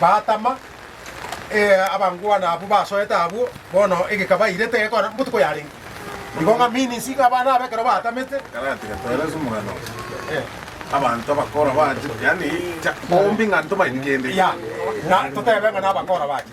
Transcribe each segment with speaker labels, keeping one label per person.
Speaker 1: batama, abangwana abwo basoete abwo, bono egeka bairete gekora botuko yarenge. Igo ng'a means ng'a abana aba ekero batamete,
Speaker 2: abanto abakora bache, yaani bombi ng'a ntomanyeti kende, na
Speaker 1: totebe ng'a nabakora bache.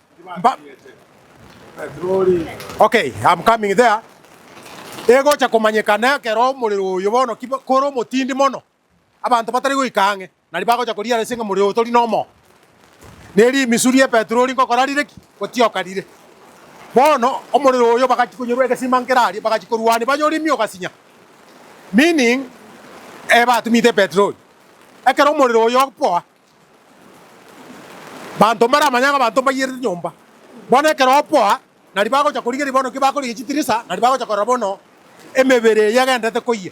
Speaker 1: Egocha komanyeka nekero omorero oyo bono ki kore omotindi mono, abanto batari goika ang'e, na riba agocha korigia ase ng'a omorero oyo tori nomoo, na erio emisu ria epetroli nkogokora rire ki? Gotioka rire. Bono omorero oyo bagachi konyorwa egesima nkere aria, bagachi korwania banyore imia ogasinya, meaning batumete epetroli. Ekero omorero oyo opoa. Banto mbaramanye ng'a abanto mbaiyerete nyomba. Bono ekero oboa, nari bagocha korigeria bono ki bakorigia chitirisa, nari bagocha korora bono emebere eyio egendererete koyia.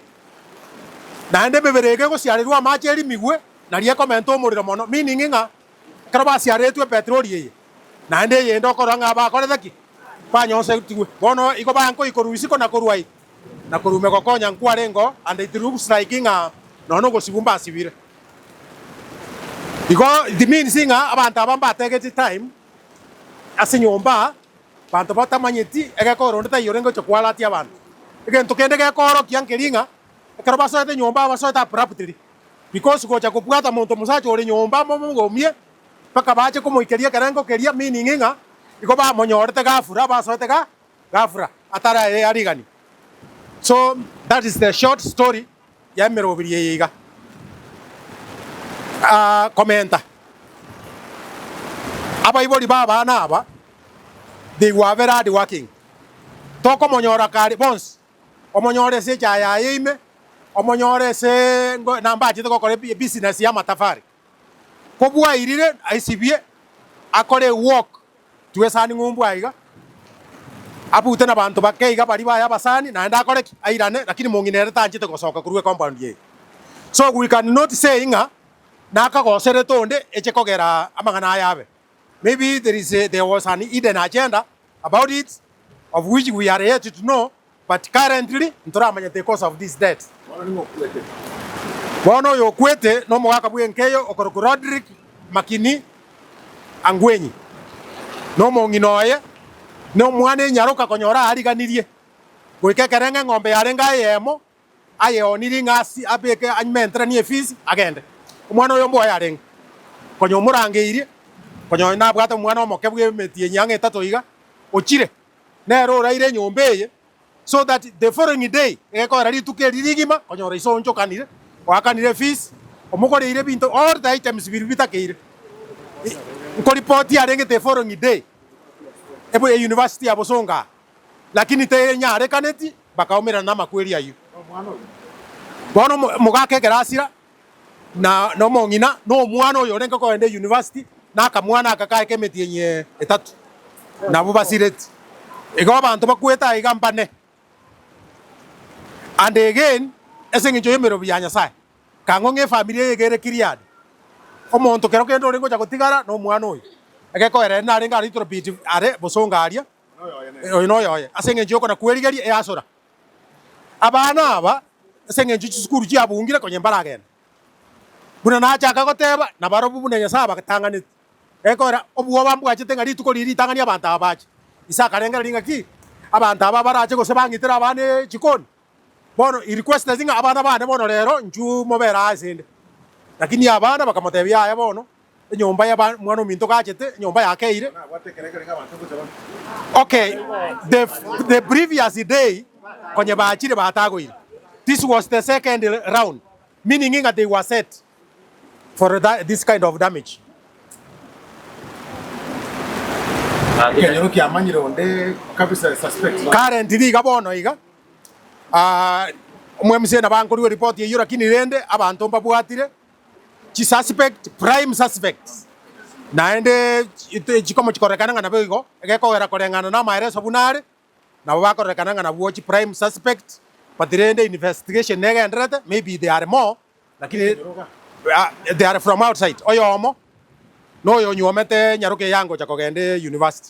Speaker 1: Naende emebere eyio kegosiarerwa amache erimigwe, nari ekomenta omorero mono, meaning ng'a ekero basiaretwe epetroli eye, naende eyende okorora ng'a bakorete ki? Banyonsetigwe. Bono igo baye nkoikorwa isiko na korwa aye, na korwa ime gokonya nkware ingo, and it looks like ng'a nonya nogosibu mbasibire. Igo it means ng'a abanto aba mbategetie time ase enyomba abanto batamanyeti egekogera onde taiyo orenge gocha koalatia abanto. Egento kende gekoorokia nkeri ng'a ekero basoete enyomba basoete abruptly because gocha kobwata monto omosacha ore nyomba momogumie mpaka bache komoikeria ekerengo keria meaning ng'a igo bamonyorete gafura basoete ga gafra atari aye yariganie so that is the short story ya emerobiri eye iga aah commenta abaibori ba abana aba they were very hard working tokomonyora kare bonsi omonyore ase echaye yaye ime omonyore ase ngo nambachete gokora ebi ebusiness ya amatafari. Kobwairire aisibie akore ewok twesani ng'umbu aiga, abute nabanto bake iga baria baye abasani naende akore ki? Airane, lakini mong'ina ere tanchete gosoka korwa ecompund eye. So we can not say ng'a nakagoserete onde eche kogera amang'ana aya abe. Maybe there is a, there was an hidden agenda about it of which we are yet to know But currently ntoramanya the cause of this death. Bono oyo okwete nomogaka bw'enkeyo okorokwa Rodrick Makini Angwenyi, na omong'ina oye nomwana enyaroka konyora ariganirie goika ekereng'a eng'ombe yarenge aye eyemo ayeonirie ng'a abeke amenteranie efees agende. Omwana oyombe oye arenge konya omorangeirie konya oye nabwate omwana omoke bw'emeti eye ang'e etato iga ochire. nere oraire enyomba eye, so that the following day egekoera rituko eri rigima konyora iso onchokanire, oakanire fees, omogoreire ebinto, all the items biria bitakeire nkoripoti arenge the following day ebe euniversity ya bosongo aa, lakini tenyarekaneti bakaumerana namakweri ayio. Bono mogaka ekerasira na nomong'ina, na omwana oyo orenge kogenda eyunivasiti, na akamwana aka kaye k'emetienyi etato, nabwo basireti. Igo abanto bakwete aiga mbane and again ase engencho y'emerobi ya Nyasae. Kang'o ng'a efamiri eye iga ere Gileadi? Omonto kero kende orenge gocha gotigara nomwana oyo, egekoera ere narenge a little bit are bosongo aria, oyo noyoye, ase engencho y'okona kwerigeria easora. Abana aba, ase engencho chisukuru chiabungire, konya mbaragende. Buna nachaka goteba, nabarobwo buna Nyasae abatang'aneti. Gekogera, obwoba mbwachete ng'a rituko riria ritang'ani abanto aba bache. Ise akarengera ring'aki abanto aba barache gose bang'itere abana echikoni. Bono he requested ng'a abana bane bono rero inchuo mobere aase inde. Lakini abana bakamotebia, Yaya bono, Enyomba ya ba mwana ominto gachete enyomba yakeire. Okay the the previous day konye bachire batagoire this was the second round meaning inga they were set for that this kind of damage. Ekenyoro kiamanyire onde kabisa suspect. Currently iga bono iga ah, omwemsena bankorua report eyio lakini rende abanto mbabwatire chi suspect, prime suspects, naende chikomochikorekana ng'a nabo igo, egekogera koreng'ana namaereso buna are, nabo bakorekana ng'a nabwo chi prime suspects, but rende investigation negenderete, maybe they are more, lakini they are from outside, oyomo noyo onyuomete nyaroke eyangocha kogenda university.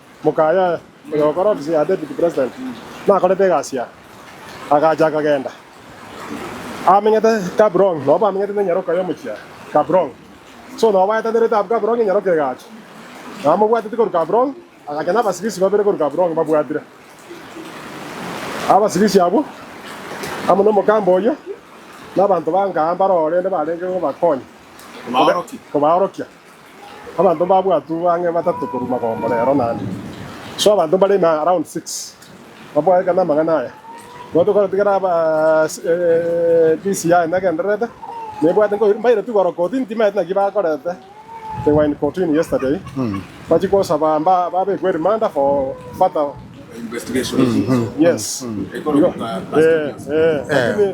Speaker 3: Moka aye oyo ogokora ofisi ya Deputy President nakorete egasi aa, agacha akagenda. Aamenyete Gaborone, nao bamenyete nenyaroka y'omochie Gaborone. So nao baetanerete abwo Gaborone enyaroka egacha. Nao amobwateti korwa Gaborone, agacha nabasibisi babere korwa Gaborone babwatire. Abasibisi abwo, amo nomokamba oyio, nabanto b'angaa mbare orende barenge kobakonya, kobaorokia. Abanto mbabwatwe bang'e batato korwa magombo rero naende. So abanto mbare na around six baboegete namang'ana aya. Nigo tokotigera ebisi yaye negendererete, nebwate nkoiru, mbaire tu goro kotini timaete naki bakorete, they were in kotini yesterday, bachie kosaba mba babekwe rimanda for further,
Speaker 2: yes,
Speaker 3: igo, eh, eh, lakini.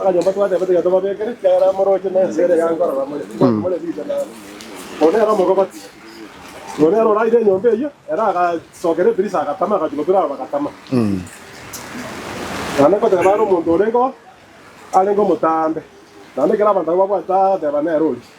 Speaker 3: Akanyomba twateba tiga tobabekere, ekiagera morooche nense ere ya nkorora more, tiga more bibe na ore nere omogobati. Ore nere oraire enyomba eyio, ere agasokera ebirisa agatama, agachukwa bire abo bagatama. Naende nkoteba are omonto orengeo, arenge omotambe, naende ekero abanto abwo babwate agateba nere oria.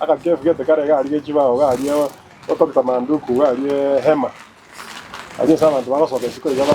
Speaker 2: Agakefu
Speaker 3: gete kare garia ge chibao garia otogete Amanduku garia Hema, aria ase abanto bagosoka isiko
Speaker 4: iga
Speaker 3: ba.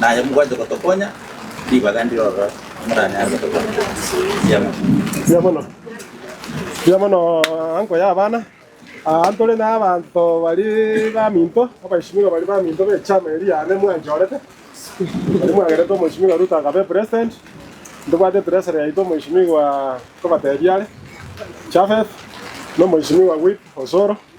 Speaker 5: Naye mobwanche gotokonya, ribaga ndire ororo timoranyare gotokonya.
Speaker 3: Mbuya mono. Mbuya mono. Mbuya mono uncle y'abana. Aa ntore n'abanto bari baminto, abaishimiwa bari baminto b'echama eria yane mwanchorete. Bari mwagerete omoishimiwa Ruto akabe president. Ntobwate treasury yaito omoishimiwa nkobatebia are, Japheth, n'omoishimiwa Whip Osoro.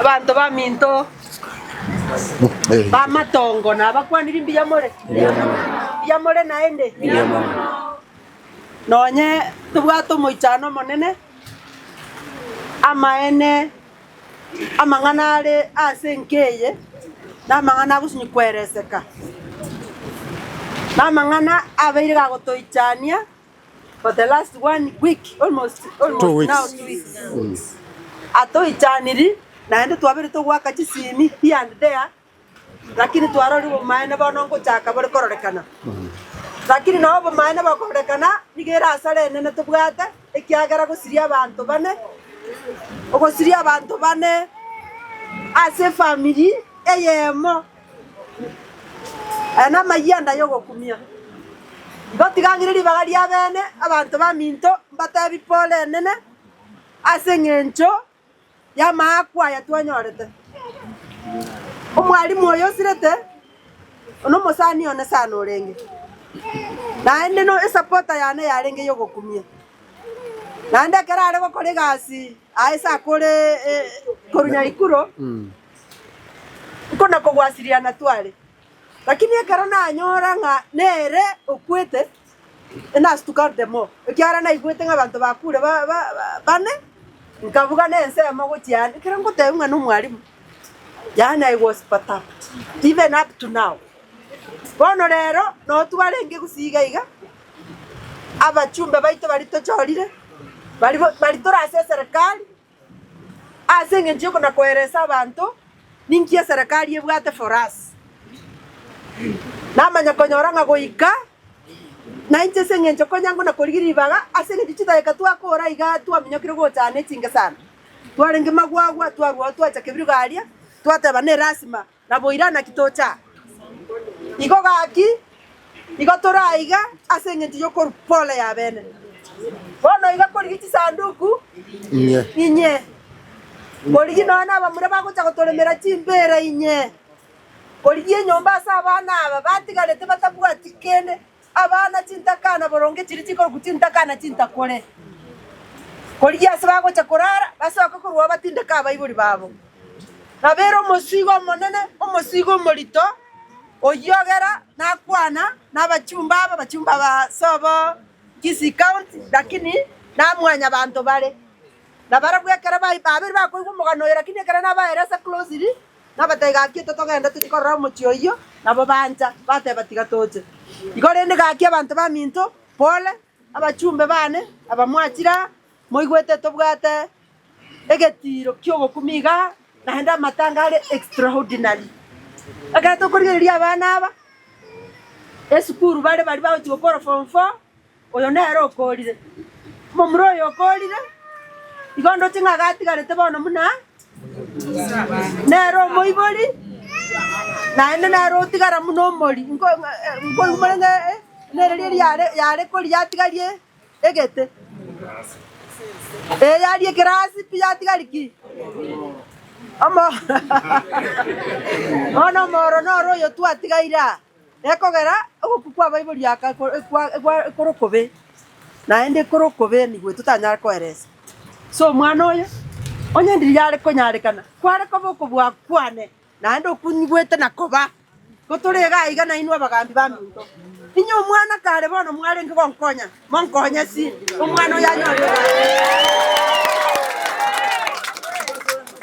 Speaker 6: Abanto baminto, bamatongo nabakwaniri mbuya more? Mbuya more naende? Nonye tobwate omoichano omonene, amaene amang'ana are ase enka eye namang'ana agosini koereseka. Namang'ana abeire gagotoichania. for the last one week, almost, almost Two weeks. now two weeks. Atoichaniri naende twabire togoaka chisimi here and there, lakini twarorire obomaene bono ngochaka bore kororekana. Lakini nao obomaene bokororekana nigo ere asara enene tobwate, ekiagera gosiria abanto bane, ogosiria abanto bane ase efamiri eyemo. Aya namayianda yogokumia. Ngotiga ng'ire ribaga ri'abene abanto baminto mbatebi pore enene ase eng'encho yamaakwa aya twanyorete. Omwalimu oyo osirete nomosani one sana orenge. Naende no esapota yane yarenge yogokumia. Naende ekero are gokora egasi aye ase akore korwa Nyaikuro. Oko nokogwasiriana tware. Lakini ekero nanyora ng'a nere okwete, inasituka the more, ekiagera naigwete ng'a abanto bakure bane, nkabuga nensemo gochia ande, ekero ngotebiwa ng'a nomwalimu, yaani I was perturbed, even up to now. Bono rero, notwarenge gusii iga iga, abachumbe baito baria tochorire, baria baria tore ase eserekari. Ase engencho y'oko na koereesa abanto, ninki eserekari ebwate forasi? Namanya konyora ng'a goika nainche ase engencho konya ngona korigia ribaga ase engencho chidageka twakoora iga twaminyokire gochana echingesano, twarenge magwagwa, twarwao twacha kebirogo aria, twateba nelasima Naboira naki tocha? Igo gaki, igo tore aiga ase engencho y'okorwa pole y'abene. Bono iga korigia chisanduku inye, korigia nonya nabamura bagocha gotoremera chimbeera inye, korigia enyomba ase abana aba batigarete batabwati kende. Abana chintakana boronge chiria chikorokwa chintakana chintakure, korigia ase bagocha korara basoke korwa ao batindeke abaibori babo. Nabeire omosiigo omonene, omosiigo omorito, oyio ogera nakwana nabachumba aba, abachumba aba ase obo Kisii County, lakini na mwanyabanto bare. Nabarabwo ekero bai babere bakoigwa omogano oyo lakini ekero nabaeire ase closely, Nabatebia, Gaki totogenda tochie korora omochie oyio. Nabo bancha, bateba, Tiga toche. Igo rende gaki abanto baminto, Pole, abachumbe baane, aba mwachire aa, moigwete tobwate egetiiro ki'ogokumia iga aa, naende amatanga are extraordinary. Ekero tokorigereria abana aba esukuru bare baria bagochia gokora form four. Oyo nere okoorire. Omomura oyo okoorire, igo ndoche ng'a gatigarete bono buna nere omoibori, naende nere otigara buna omori. Nko- eh, nkoigumore ng'a eh, eh, nere riria riare- yare kori yatigarie egete. Eh, yaria ekerasi pi yatigari ki? Omo- Bono omoro noro oyo twatigaire aa. Ekogera ogokwa kw'abaibori aka ekore okobe, naende ekore okobe nigo totanyare koeresa. Ase omwana oyo, onye ndiria are konyarekana, kware koba okobua kwane, naende okwo nyigwete na koba. Igo tore iga aiga nainwe abagaambi b'aminto, inwe omwana kare bono mwarenge gonkonya, Monkonye si omwana oyo anyore obonene.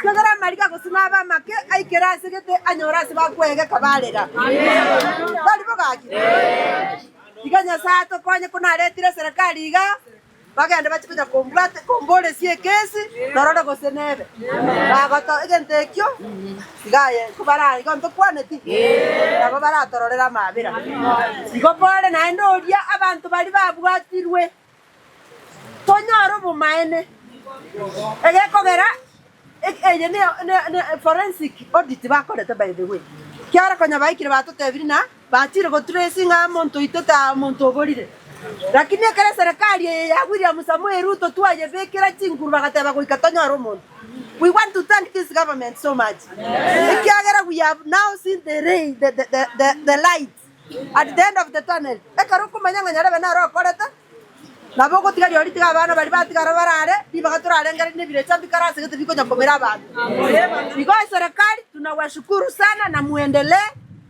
Speaker 6: Kiagera amariga gose nabe amake aikera ase gete anyore ase bakwegeka barera. Barimo gaki? Iga Nyasae atokonye ko naretire eserekari iga bagende bache konya kombwate komboresia ekesi norore gose nebe. Bagoto egento ekio Tiga aye inko baraare igo ntokwaneti, nabo baratororere amaabera. Igo more naende oria abanto baria babwatirwe, tonyore obomaene. Egekogera eki eye ne ne ne forensic audit bakorete by the way. Kiaro konya baikire batotebirie na Bachire gotracinga omonto oito taa omonto oborire. Lakini ekero eserekari eye ya William Samoei Ruto twayebekera chinguru bagateba goika tonyore omonto. We want to thank this government so much ekiagera we have now seen the ray, the, the, the, the, the light at the end of the tunnel. Ekero okomanya ng'a nyarebe naro okorete nabo ogotiga riao ritiga abana baria batigara barare ribaga torarengereria nebirecha mbikare ase gete bikonya komera abanto. Igo eserekari tunawashukuru sana na muendelee.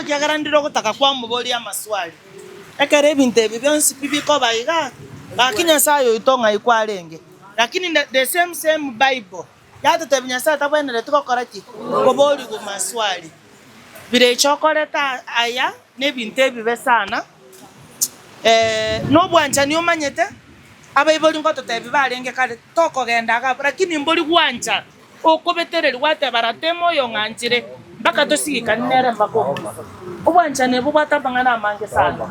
Speaker 6: Ekiagera ndire ogotaka kwamoboria amaswali. Ekero ebinto ebi bionsi pi bikoba iga, gaki Nyasae oito ng'ai kwarenge? Lakini the same same Bible yatotebi Nyasae tabwenereti gokora ki? Koborigwa maswali. Birecha okoreta aya nebinto ebibe sana. Nobwanchani omanyete abaibori ngototebi barenge kare tokogenda iga abwo, lakini mbori gwancha. Okobetererigwa ateba, Ratemo oyo ng'anchire, mpaka tosigikane nere mpaka omoiso. Obwanchani obo bwate amang'ana amange sana.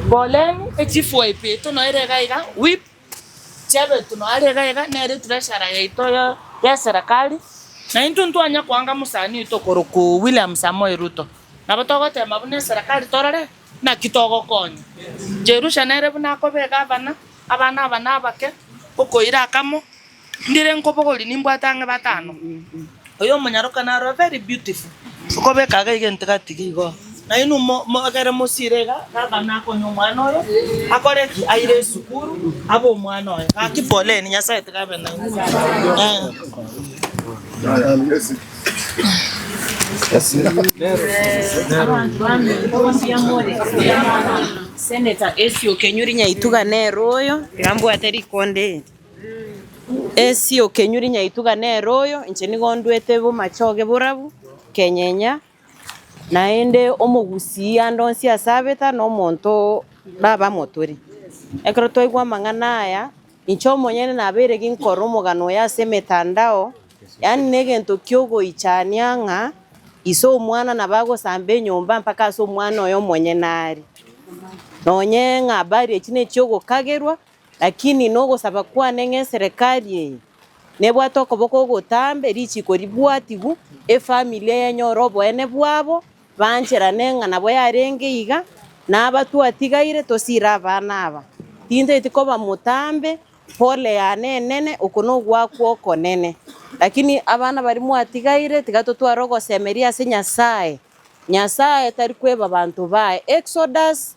Speaker 6: Boreni echifwa ebiito noire iga iga, whip, chi'ebiito noare iga iga, nere treasurer yaito ye serikali, na intwe ntwanya koanga mosani oito okorokwo William Samoei Ruto. Nabo togotema buna eserekari torore naki togokonya. Jerusha nere buna akobe egavana, abana aba nabake, okoira akamo, Ndire nkobogorie nimbwate ang'e batano. Oyo omonyaroka naro a very beautiful. Okobeka iga iga entigati iga igo. Na
Speaker 7: inwe mo mogere mosire iga baba nakonye omwana oyo akore ki? Aire esukuru abe omwana oye. Gaki poleni Nyasaye tiga abe nainwe. Eeh.
Speaker 8: Senator Essie Okenyori nyaituga nere oyo, tiga mbwate rikonde eri. Esio okenyure nyaituga nere oyo, inche nigo ndwete bomache oge borabu, kenyenya, naende omogusii ande onsi ase abeta na omonto nabe amo tore. Ekero twaigwa amang'ana aya, inche omonyene nabeire ginkoro omogano oye ase emetandao, yaani na egento kiogoichania ng'a ise omwana nabo agosamba enyomba mpaka ase omwana oye omonyene are. Nonye ng'a bariage ne chiogokagerwa, Lakini nogosaba kwane ng'a eserekari eye nebwate okoboko ogotambe richiko ribwatigwe, efamili eye enyore oboene bwabo, baancherane ng'a nabo yarenge iga, na aba twatigaire tosiire abana aba. Tintaeti koba motambe, pole yane enene, oko nogwakwa okonene. Lakini abana baria mwatigaire tiga totware ogosemeria ase Nyasae, Nyasae tari kweba abanto baye. Exodus.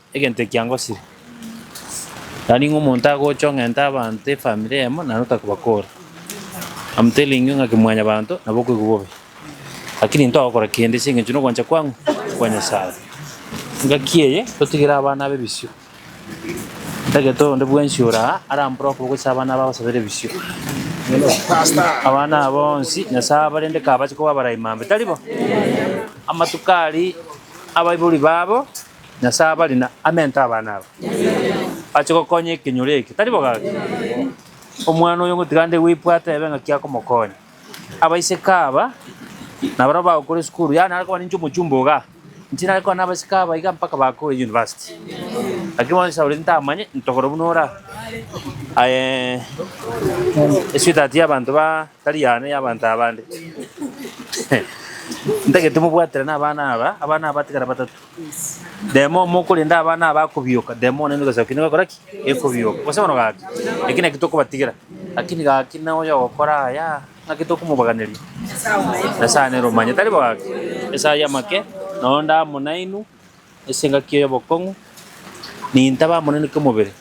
Speaker 9: Egento ekia ngosire, na ning'o omonto agocha ong'enta abanto efamiri eyemo naende otakobakora? I'm telling you ng'aki mwanyabanto nabo okoigwa bobe, lakini ntogokora kende ase engencho nogwancha kwang'u kwa Nyasaye. Engaki eye totigere abana abe bisio. Tagete onde bwensi ore aa arambore okoboko ase abana abe agosabera ebisio. Abana aba onsi Nyasaye abarende kabache koba abarai mambe, tari bo? Amatuko aria abaibori babo. Nyasae abari na amento abana aba. Ache gokonya ekenyoro eke, tari bogaki? Omwana oyo ngotiga nde gwebwata ebe ng'aki akomokonya. Abaiseke aba, nabarabwo bagokora esukuru, yaani are koba ninche omochumba iga, inche nare koba nabaseke aba iga mpaka bakore university. Lakini bono Sauleti ntamanye, ntogoro buna ore aa. Aye, esweetheart y'abanto ba tari yane, y'abanto abande. Ntagete mobwaterane abana aba, abana aba batigare batato. Remo omo okorenda abana aba akobioka, remo one emegaso yaino egokora ki? Ekobioka. Gose bono gaki, eki naki tokobatigera, lakini gaki na oyo ogokora aya, ng'aki tokomobaganeria? Nyasae nere omanyete. Tari bo gaki? Esaa y'amake, na onde amo nainwe ase engaki y'obokong'u, nintabe amo nainwe kemobere.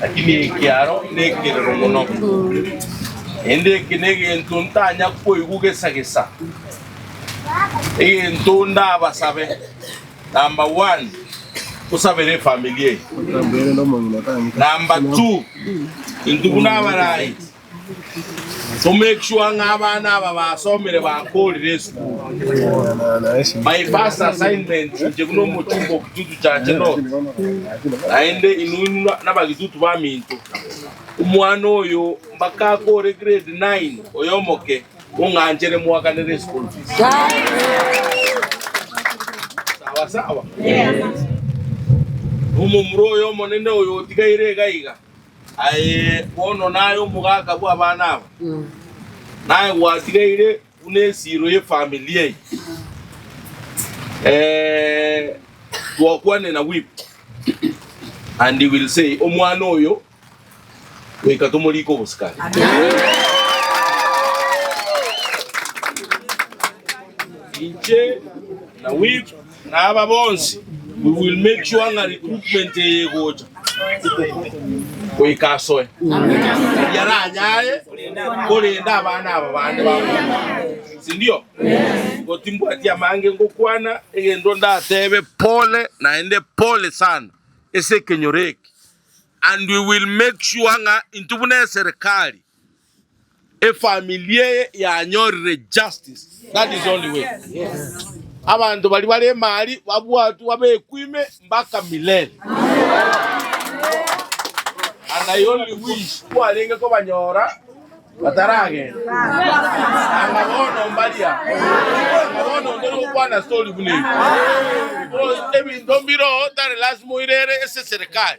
Speaker 4: Lakini eke aro nekerero mono, naende eke negento ntanya koigwa gesa gesa. Egento ndabasabe, number one, tosabere efamili eye. Number two, intwe buna abarai To make sure ng'a abana aba basomire bakorire esukuru. My first assignment inche buna omochungo o Kitutu Church North, naende inwe nabagitutu baminto. Omwana oyo mpaka akore grade nine oyo omoke mong'anchere moaganere eschool fees. Sawa sawa? Nomomura oyo omonene oyo otigaire iga iga Aye bono naye omogaka bw'abana aba, naye gwatigaire buna esiro y'efamilia eye. Twakwane na Whip, and he will say, Omwana oyo, goika tomorike obosikani. Inche na Whip. Na aba bonsi we will make sure ng'a recruitment eye egocha goika asoe yaranyare korenda abana aba bande bagocha, sindio? Igo timbwati amange ngokwana egento ndatebe, pole naende pole sana ase ekenyoro eke and we will make sure ng'a intwe buna eserekari Efamiri eye yanyorire justice that is only way abanto baria bare emari babwatwe babekwe ime mbaka milele and I only wish kwarenge kobanyora bataragenda anga bono mbaria anga bono onde nokwana story buna ebi Because ebinto mbiro tari lazima oirere ase serikali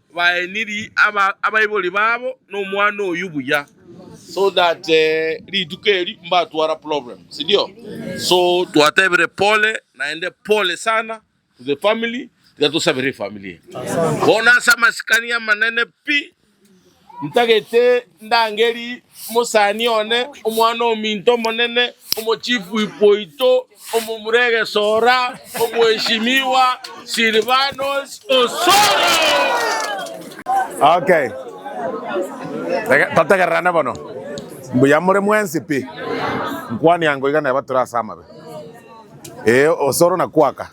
Speaker 4: baenirie abaibori babo nomwana oyio buya so that rituko eri mbatwara problem sindio so twatebire pole naende pole sana to the family tiga tosabere efamily eye bono ase amasikani amanene pi ntagete ndangeri mosani one omwana ominto omonene omochief oito. Omomura egesora, Omweshimiwa Silvanus Osoro.
Speaker 2: Okay. Rega totegererane bono. Mbuya more mwensi pi. Nkwania ango iga neba tore ase amabe. Ee, Osoro nakwaka.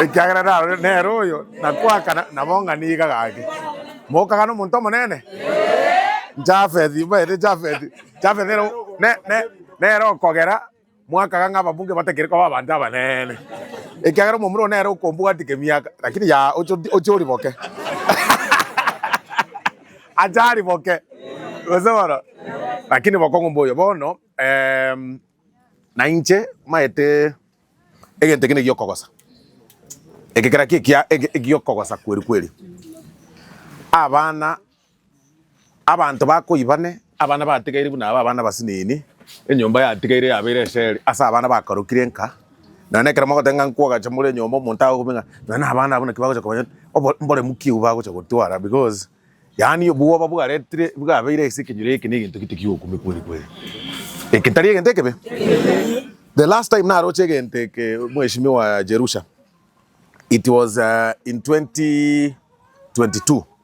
Speaker 2: Ekiagera narorire nere oyo nakwaka na- nabo ng'a niga gaki. Mokagana omonto omonene? Japheth, mbaete Japheth. Jafeth ere nere okogera mwakaga ng'a ababunge batakiri koba abanto abanene, ekiagera omomura oo nere okombwatia kemiaka, lakini yaya oche oriboke. Ache ariboke, gose bono, lakini bokong'u mboyo. Bono nainche maete egento ekio negiokogosa, egekera kio ekiaaa egiokogosa kweri kweri, abana. Abanto bakoibane, abana batigaire buna aba abana abasinini, enyomba yatigaire yabeire eseri ase abana bakarokire nka. Nonya nekero mogoteeba ng'a nkwogacha more enyomba omonto agocha kobua ng'a nonya na abana abwo naki bagocha komanya obo- mboremu ki obwo bagocha gotwara because yaani obwoba bwaretire bwabeire ase ekenyoro eke na egento gete gi'okomia kweri kweri. Eke tari egento ekebe? The last time naroche egento eke mweshimiwa Jerusha, it was in 2022.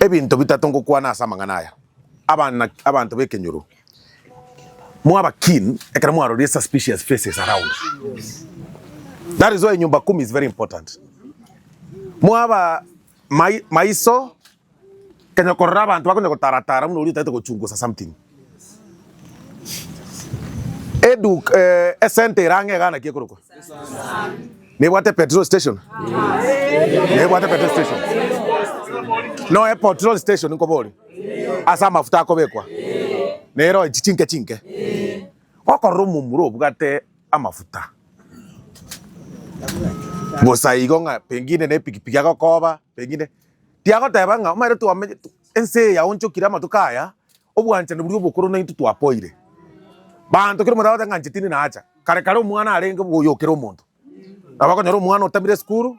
Speaker 2: Ebinto bitato ngokwana ase amang'ana aya, abana, abanto b'ekenyoro, mwaba keen ekero mwaroria suspicious faces around. That is why Nyumba Kumi is very important. Mwaba mai, maiso, kenya korora abanto bakonya gotaratara buna oria otaete gochungusa something. Eduka eh, esente erang'e egana ki ekorokwa? Nebwate petrol station. Nebwate petrol station. No e petrol station nkobori. Asa amafuta akobekwa. Nero echi chinke chinke. Okorora omomura obwate amafuta. Bosa igo ng'a pengine ne pikipiki agokoba, pengine. Tiagoteba ng'a omanyete twamenye ense yaonchokire amatuko aya. Obwanchani boria obokoro naintwe twapoire. Baanto kera omorabe oteba ng'a inche tindi nacha. Kare kare omwana arenge bwoyo okere omonto. Nabo okonyora omwana otamire esukuru,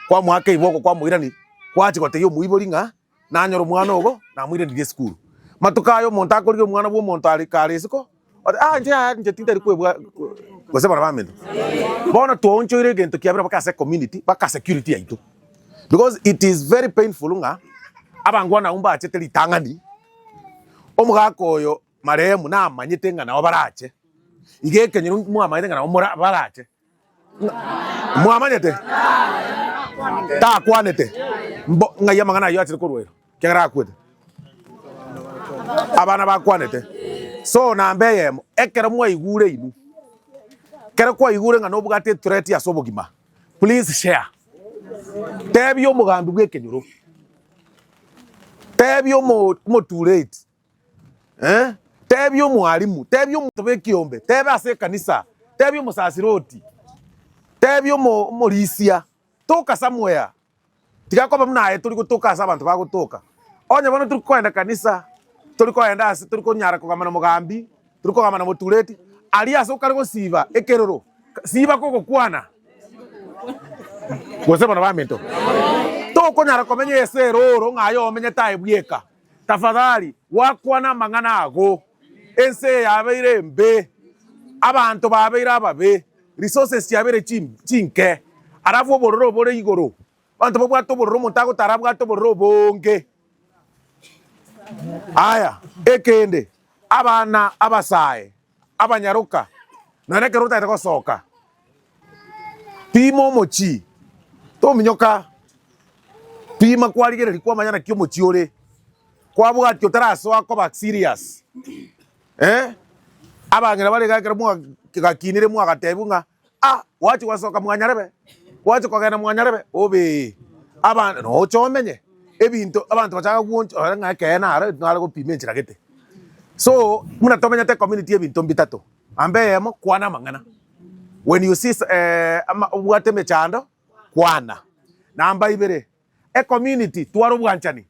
Speaker 2: kwamoaka eiboko kwamoirani, kwachia gotebia omoibori ng'a nanyore omwana ogo namoiranirie esukuru. Matuko aya omonto akorire omwana bw'omonto are kare isiko, Ore, Ah, inche yaya, inche tintari kwebwa gose barabwo amenyo. Bono twaonchoire egento kiabera mpaka ase ecommunity, mpaka security yaito. Because it is very painful ng'a abange one abwo mbachete ritang'ani, omogaka oyo marehemu namanyete ng'a nabo barache, iga ekenyoro mwamanyete ng'a nabo mora barache. Mwamanyete? Takwanete mbo ng'ai amang'ana ayio achire korwa ero, ekiagera akwete. Abana bakwanete. So namba eyemo, ekero mwaigure inwe, ekero kwaigure ng'a nobwate threat ase obogima, please share. Tebia omogambi bw'ekenyoro. Tebia omo- omotuureti. Eh, tebia omwalimu, tebia omonto b'ekiombe, tebe ase ekanisa, tebia omosasiroti, tebia omo- omorisia, toka somewhere. Tiga koba buna aye tori gotoka ase abanto bagotoka. Onye bono tori koenda ekanisa, tori koenda ase tori konyara kogamba na mogambi, tori kogamba na motureti, aria ase okare gosiba ekeroro, ka- siba kogokwana. Gose bono baminto. Tokonyara komenya ase erooro ng'a aye omenyete aye bweka. Tafadhali gwakwana amang'ana ago. Ense yabeire embe, abanto babeire ababe, resources chiabeire chinke, alafu obororo obore igoro, abanto babwate obororo omonto agotara abwate obororo obonge. Aya, ekende, abana abasae abanyaroka, nonya nekero otagete gosoka, pima omochie, tominyoka, pima kwarigereria kwamanya naki omochie ore, kwabwati otarasoa koba serious, eh, abang'ina bare iga ekero mwa gakinire mwagatebiwa ng'a. Ah, gwachia gwasoka mwanyarebe, gwachia kogenda mwanyarebe, obee, abande nocha omenye ebinto abanto bachaka kuguonch ore ng'a ekeene aro etu nare gopima enchera gete. So, buna tomenyete community ya ebinto mbitato, amba eyemo kwana amang'ana. When you see s- eh, ama- obwate emechando, kwana. Namba ibere, ecommunity tware obwanchani,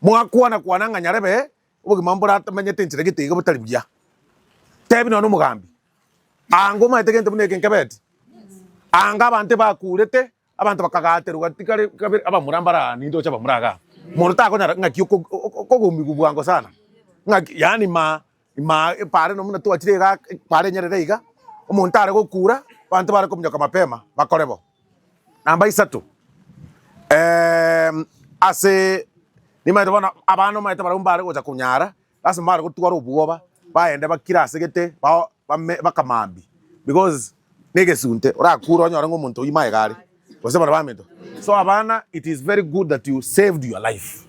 Speaker 2: mwakwana kwana ng'a nyarebe Obogima mboramanyete enchera gete iga botari buya. Tebi nonya nomogambi, Anga omaete gento buna eke nkebeti. Anga abanto ebakurete, abanto bakagaterwa tikare kabere abamura mbare aa nintoche abamura iga. Monto takonyara ng'aki okogumigwa bwango sana. Ng'aki yaani ma ma bare nonya buna twachire igaa bare enyerere iga, omonto are gokura, abanto bare kominyoka mapema bakore bo. Namba isato, eeh, ase nimaete bono abana omanyete barabwo mbare gocha konyara, lasima mbare gotwara obwoba, bagende bakire ase gete, bao bame bakamambie because na egesunte, orakure onyore ng'a omonto oyio magega are, gose bare baminto. So abana it is very good that you saved your life,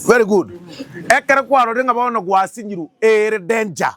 Speaker 2: very good, ekero kwarorire ng'a bono gwasinyirwe ere danger.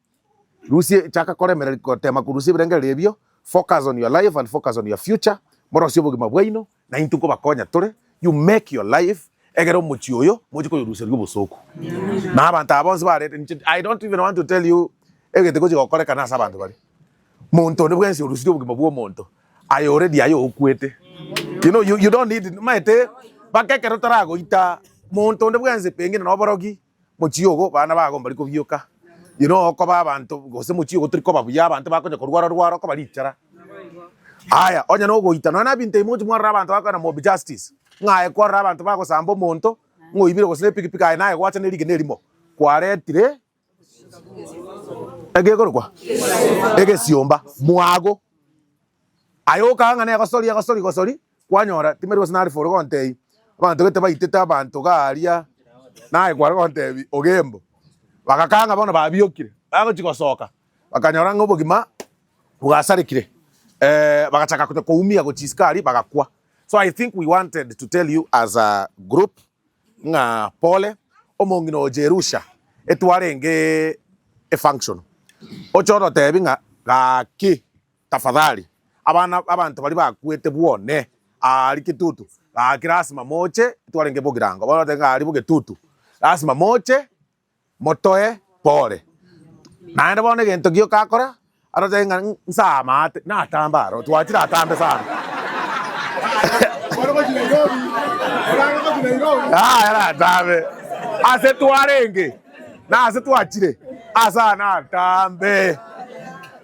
Speaker 2: Rusia chaka koremera gotema korusia ebirengererio ebio, focus on your life and focus on your future, morosie obogima bwaino na intwe nkobakonya tore, you make your life egere omochie oyo mochie koyoruseria obosooku. Na abanto aba bonsi barete, inche I don't even want to tell you egete gochia gokorekana ase abanto baria. Monto onde bwensi orusirie obogima bwa omonto aye already aye okwete. You know, you, you don't need, maete, baka ekero taragoita monto onde bwensi pengine noborogi, Mochie ogo bana bago mbari kobioka, inwe okoba abanto, gose mochie ogo tori koba buya, abanto bakonya korwara-rwara okobarichara. Aya, onye nogoita, nonya nabinto ebi mogochia mwarora abanto bakoenda mob justice, ng'a aye kwarora abanto bagosamba omonto, ng'a oibire gose nepikipiki aye naye gwacha nerigena erimo, kwaretire egekorokwa? egesiomba. Mwago. Aye okaa ng'a negosori egosori gosori kwanyora timeri gose nari foro gontebi abanto gete baitete abanto garia naye kware gontebi ogembo bagakaa ng'a bono babiokire bagochi gosoka bakanyora ng'a obogima bwasarekire bagachaka konya koumia gochia isiko aria bagakwa so i think we wanted to tell you as a group ng'a pole omong'ina oo Jerusha etwarenge efunctional oche ototebi ng'a gaki Tafadhali, abana b'abanto baria bakwete bwone aa riketutu gaki lasima moche, twarenge bogirango bw'abanto ng'a ari bogetutu, lasima moche motoe pole. Naende bono egento gioka akora, arotebe ng'a nsaamate, natambe aro, twachire atambe sana. Yaya natambe, ase twarenge, nase twachire, asa natambe.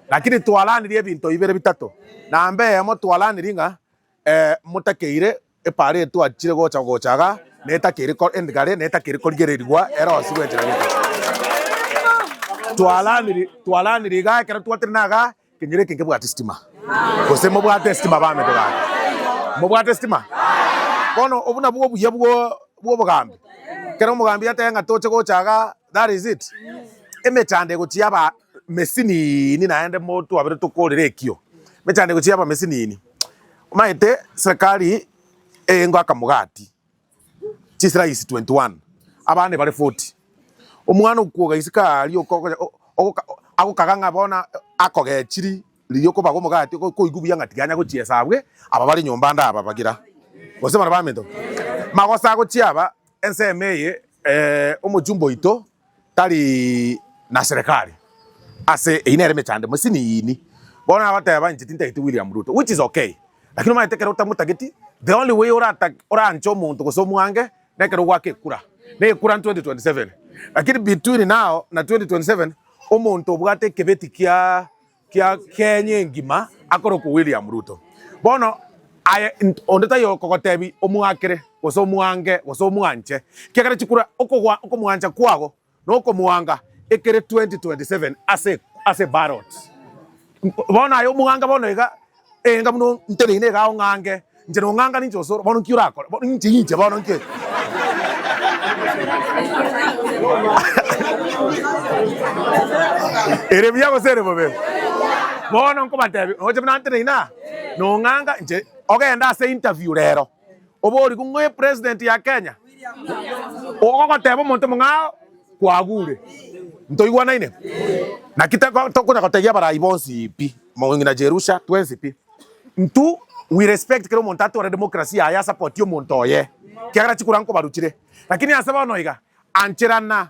Speaker 2: Lakini twaranirie ebinto bibere bitato, na mbe eyemo twaranirie ng'a ee motakeire epaaro eye twachire gocha gochaga na etakeire ko endigare na etakeire korigererigwa ere onsi bw'enchera gete. Twaranirie twaranirie igaa ekero twatire na agaa kenyoro eke nkebwate sitima. Gose mobwate sitima baminto bane? Mobwate sitima? Bono obwo nabwo obuya bwo bw'obogambi. Ekero omogambi atebe ng'a toche gochaga that is it. Emechando egochia aba mesinini naende mo twabere tokorera ekio mechandiko chia abamesinini omaete serikali engo akamogati chisirayisi 21 abana ebare 40 omwana okwoga isiko aria oko- okonya- o- ogoka- o- agokaga ng'a bono akogechiri riria okobaga omogati oko- okoigwa buya ng'a tiganya gochiesa abwe aba bare nyomba ande aba bagira gose barabaminto magosa gochia aba ensemo eye eh, omochumba oito tari na serekari ase eyi nere emechando emesini yini bono nagoteba inche tintageti William Ruto which is okay lakini omanyete ekero otamotageti the only way oranche omonto gose omwange nekero ogwake ekura na ekura 2027 lakini between now na 2027 omonto obwate ekebeti kia kia Kenya engima akorokwa William Ruto. Bono aye onde taiyo okogotebi omwakere gose omwange gose omwanche kiagera chikura okogwa okomwancha kwago na okomwanga ekere 2027 ase ase ballot. Bono aye omwanga bono iga. Enga buna nteneine iga ong'ange inche nong'ang'ane inche osoro. Bono nki orakore? Bono inche inche bono nki eke? Ere buya gose ere bobe? Bono nkobatebia, noche buna nteneine aa, nong'anga inche, ogende ase interview rero. Obooriku ng'oe president ya Kenya ogogoteba omonto mong'ao kwagure. Ntoigwanaine? Naki teko tokonya gotegia abarai bonsi pi, mong'ina Jerusha, twensi pi. Ntu we respect kera omonto atore democracy yaye asapoti omonto oye, kiagera chikura nkobaruchire. Lakini ase bono iga, anchera na.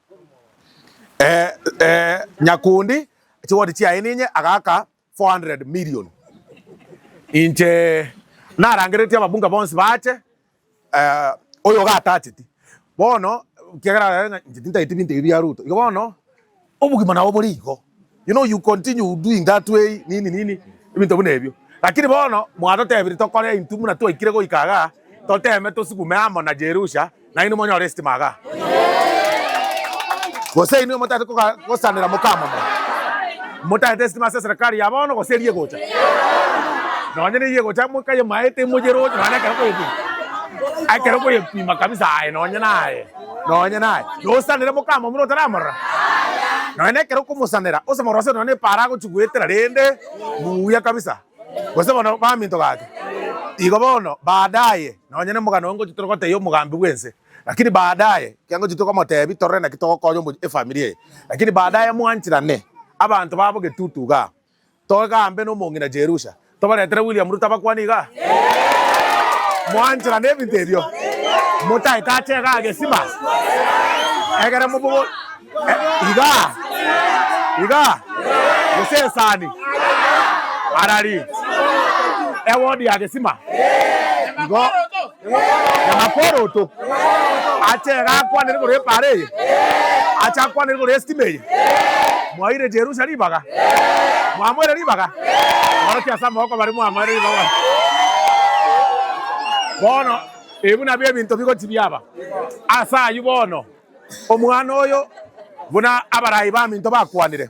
Speaker 2: Nyakundi chigoti chiaye ninye agaaka 400 million. Inche narangereretie ababunge bonsi baache oyo iga atacheti bono ekiagera inche tintageti binto ebi bia Ruto. Igo bono obogima nabo bore igo. You know you continue doing that way nini nini ebinto buna ebio. Lakini bono mwatotebirie tokore intwe buna twaikire goika iga toteme tosugume amo na Jerusha nainwe monyore estima iga. Gose inwe motagete koga gosanera mokamomba motagete estima ase eserekari ya bono gose eria egocha. Nonye neyio egocha mwekaye maete moyeroche nonye ekero okoyepima ekero okoyepima kabisa aye nonye naye. Nonya naye yosanere mokama buna otaramorora, nonya nekero okomosanera osemore ase nonya nepaaro agochigwetera rende buya kabisa gose bono baminto gake. Igo bono baadaye nonya nemogano onge ochitere gotebia omogambi bwense lakini baadaye kianga ochitere komotebia torore naki togokonya efamiri eye lakini baadaye mwanchirane abanto babo getutu igaa. Togambe nomong'ina Jerusha. Tobaretere William Ruto abakwane iga. Mwanchera nebinto ebio. Motaete ache iga agesima. Egere mobogo iga. Iga. Gose esani. Arari. Ewodi yagesima. Igo. Namakoroto. Ache iga akwane igoro y'epaara eye. Ache akwane igoro y'esitima eye. Mwaire Jerusa ribaga. Mwamoire ribaga. Borokia ase amaboko baria mwamoire ribaga. Bono ebi nabio ebinto bigochi biaba. Ase ayio bono, omwana oyo, buna abaraai baminto bakwanire,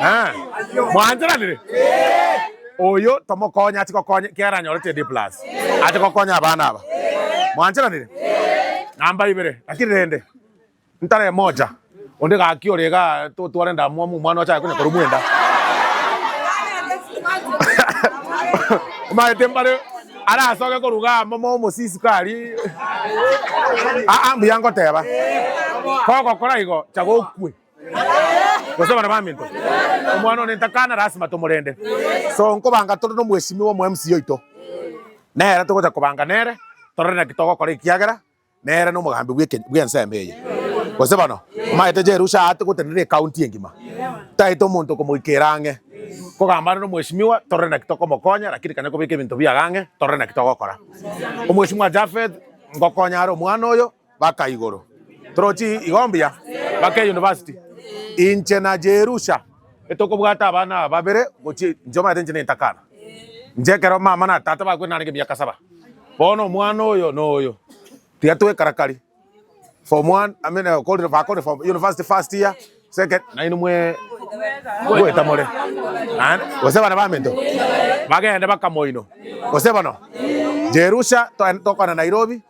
Speaker 2: Ah, mwanchoranire oyo tomokonya ati gokonya kiara anyore td plus ati gokonya abana aba mwanchoranire namba ibere lakini rende ntare moja onde gaki ore ga totware ndamwamu mwana ochaye kunya koru mwenda maete mbare Arasoke koruga amo mo omosisiko aria. Aa, mbuya ngoteba, kogokora igo, chaga okwe. Gose abana baminto, omwana one ntakana, lasima tomorende. So, nkobanga tore nomweshimiwa omo MC oito. Nere togocha kobanga nere, torore naki togokora ekiagera nere nomogambi bw'eke- bw'ensemo eye. Gose bono, omanyete Jerusha aate gotenena ecounty engima, taete omonto okomoikeera ang'e, kogamba are nomweshimiwa, torore naki tokomokonya, rakini kane kobeka ebinto biago ang'e, torore naki togokora. Omweshimiwa Japheth, ngokonya are omwana oyo, baka igoro. Torochi igo mbuya, baka eyunivasiti. Inche na Jerusha Etokobwata abana aba babere gochia inche omanyete inche nentakana. Inche ekero mama na tata bakwete narenge emiaka saba. Bono omwana oyo na oyo tiga twekarakari. Form one, I mean, okorire bakorire form university first year, second, nainwe mwe goeta more. Naende gose bana baminto bagende bakamoino. Gose bono Jerusha togende tokwana Nairobi.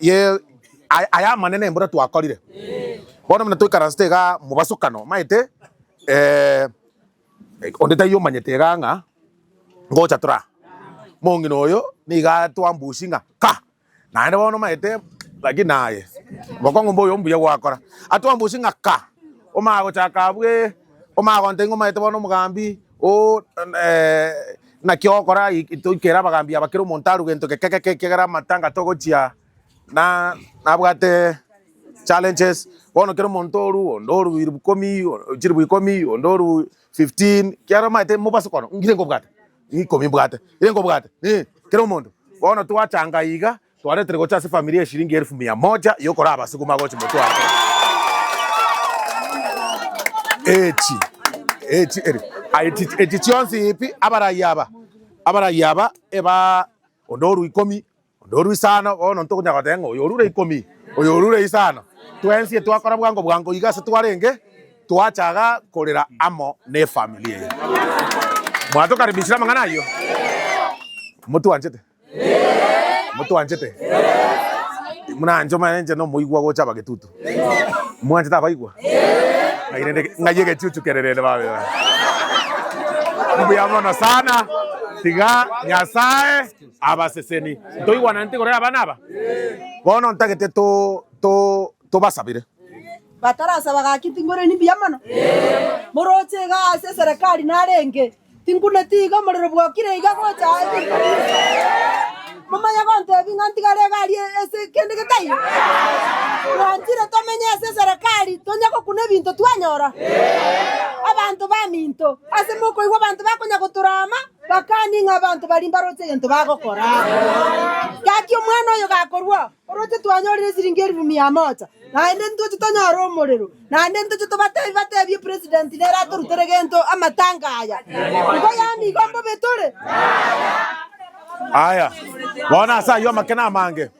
Speaker 2: Yee, aya aya amanene mbuna twakorire. Bono buna toikaransete iga mobasokano, omaete, eh, onde taiyo omanyete iga ng'a ngocha tore aa. Mong'ina oyo niga twambusia ng'a ka, naende bono omaete lakini aye mokong'u mboyo ombuya gwakora. Atwambusie ng'a ka, omanye gochaka abwo ee, omanye gontebia ng'a omaete bono omogambi oo, eh. Naki ogokora aya toikera abagambi aba kera omonto arue gento geke geke ekiagera amatanga togochia na nabwate challenges bono kera omonto oru onde oru elfu ikomi chilifu ikomi onde oru 15 kiaro omanyete mobase kono ngire nkobwate ikomi mbwate ikomi mbwate kera omonto bono twachanga iga Twaretire gocha ase efamiri eshiringi elfu mia moja y'okora abasukuma gochi motwe aa kera echi echi eri echi echi chionsi ipi abarai aba abarai aba eba onde oru ikomi onde oru isano bono ntokonya goteba ng'a oyo orure ikomi oyo orure isano twensie twakora bwango bwango iga ase twarenge twachaga korera amo n'efamiri eye mwatokaribishire amang'ana ayio motwanchete. Motwanchete? Mwanche omanye inche nomoigwa gocha abagetutu. Mwanchete abaigwa? Ng'ai rende ng'ai egechuchu kere rende babe. Mbuya mono sana. Tiga Nyasae abaseseni. Ntoigwananeti korera abana aba? Bono ntagete to to tobasabire. Batarasaba
Speaker 6: gaki tingoreni mbuya mono? Moroche iga ase eserekari narenge. Tinkuneti iga omorero bwokire iga gocha aye. Momanye gontebi ng'a ntigare egari ase kende getaiyo? Twanchire tomenye ase eserekari tonya gokuna ebinto twanyora? Abanto baminto, ase mokoigwa abanto bakonya gotorama, bakani ng'a abanto baria mbaroche egento bagokora. Gaki omwana oyo gakorwa, Oroche twanyorire esiringi elifu mia moja, naende ntoche tonyore omorero, naende ntoche tobatebi batebi epresident nere atorutere gento amatanga aya. Igo yaani igo mbobe tore?
Speaker 2: Aya, bono ase ayio amakena amange.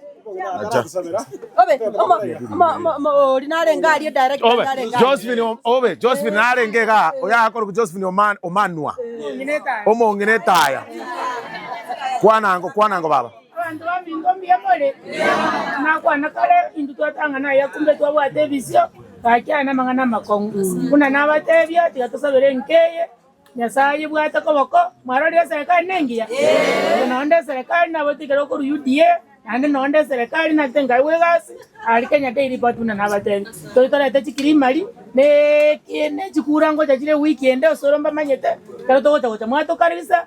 Speaker 6: Obe, Josephine, o- obe,
Speaker 2: Josephine narenge iga, oyakorokwa Josephine Oma- Omanwa, omong'ina etaya. Kwana ango, kwana ango baba. Abanto baminto
Speaker 10: mbuya more, nakwana kare intwe twatang'ana aya kumbe twabwate ebisio, gaki aya namang'ana amakong'u. Buna nabateebia, tiga tosabere enka eye, Nyasae ayebwate koboko. Mwarorire eserekari nengiya? Oyo noonde eserekari naboete ekero okorwa UDA, naende noonde eserekari nagete nkaigwa egasi are Kenya Daily Report buna nabateebia. Toigete orete chikrimari na eki- na chikura ngocha chire ewiki ende osore mbamanyete, ekero togocha gocha mwatokarerisa,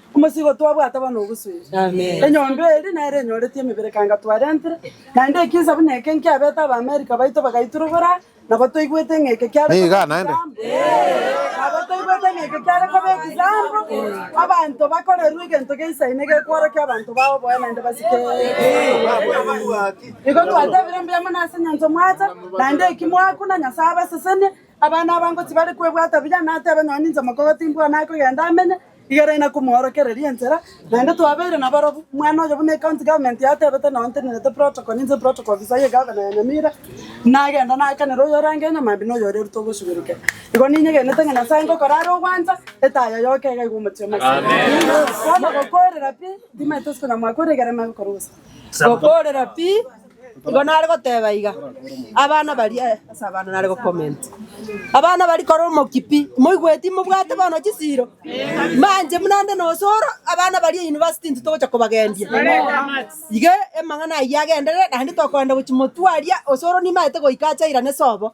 Speaker 6: Omosigo twabwate bono ogosueria. Enyomba eri nero enyoreti emebere kanga twarentire, naende ekiisa buna eke nkiabete Abaamerika baito bagaiturubora, nabo toigwete ng'a eke kiare koba Niga naende. ekisaambo.
Speaker 2: Nabo
Speaker 6: toigwete ng'a eke kiare koba ekisaambo, abanto bakorerwe egento geisaine gekworokia abanto bao boye naende basike Igo twatebire mbuya mono ase enyanso mwacha, naende eki mwakuna Nyasae abasesenie, Abana abango tibare kwebwata buya, natebe nonya ninche mokogo timbwane akogenda amenye, igere na komoorokereria ensera, naende twabeire nabarobwo. Omwana oyo buna ecounty government yatebete nao ntenerete protocol, ninche protocol officer ye gavana ya Nyamira, nagenda nakanera oyo orange nyomambia na oyo ore rute ogosugurukera. Igo ninyegenete ng'a Nyasaye ngokora are ogwancha, etaya yoka iga iga omochie omoiseke. Bono gokoorera pi, ntimaete isiko nyamwakora igere nagokora obosae. Gokoorera pi. Igo nare goteba iga, Abana baria eh, ase abana nare go comment. Abana baria kore omokia pi, moigweti mobwate bono chisiiro? Manje buna nde na osoro, abana baria university intwe togocha kobagendia. Iga amang'ana ayio agenderere, naende tokoenda gochia motwe aria, osoro nimaete goika achairane sobo.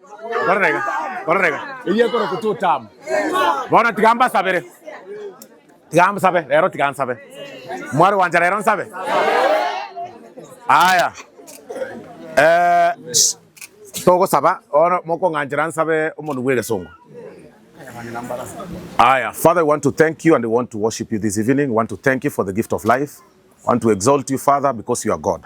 Speaker 2: Korerega, korerega, eyio ekorokwa totamu. Bono tiga mbasabere. Tiga nsabe, rero tiga nsabe. Mwari gwancha rero nsabe. Aya. Eh, sh- togosaba, bono mokong'anchera nsabe omonu bw'egesongo. Aya, Father, we want to thank you and we want to worship you this evening. We want to thank you for the gift of life. We want to exalt you, Father, because you are God.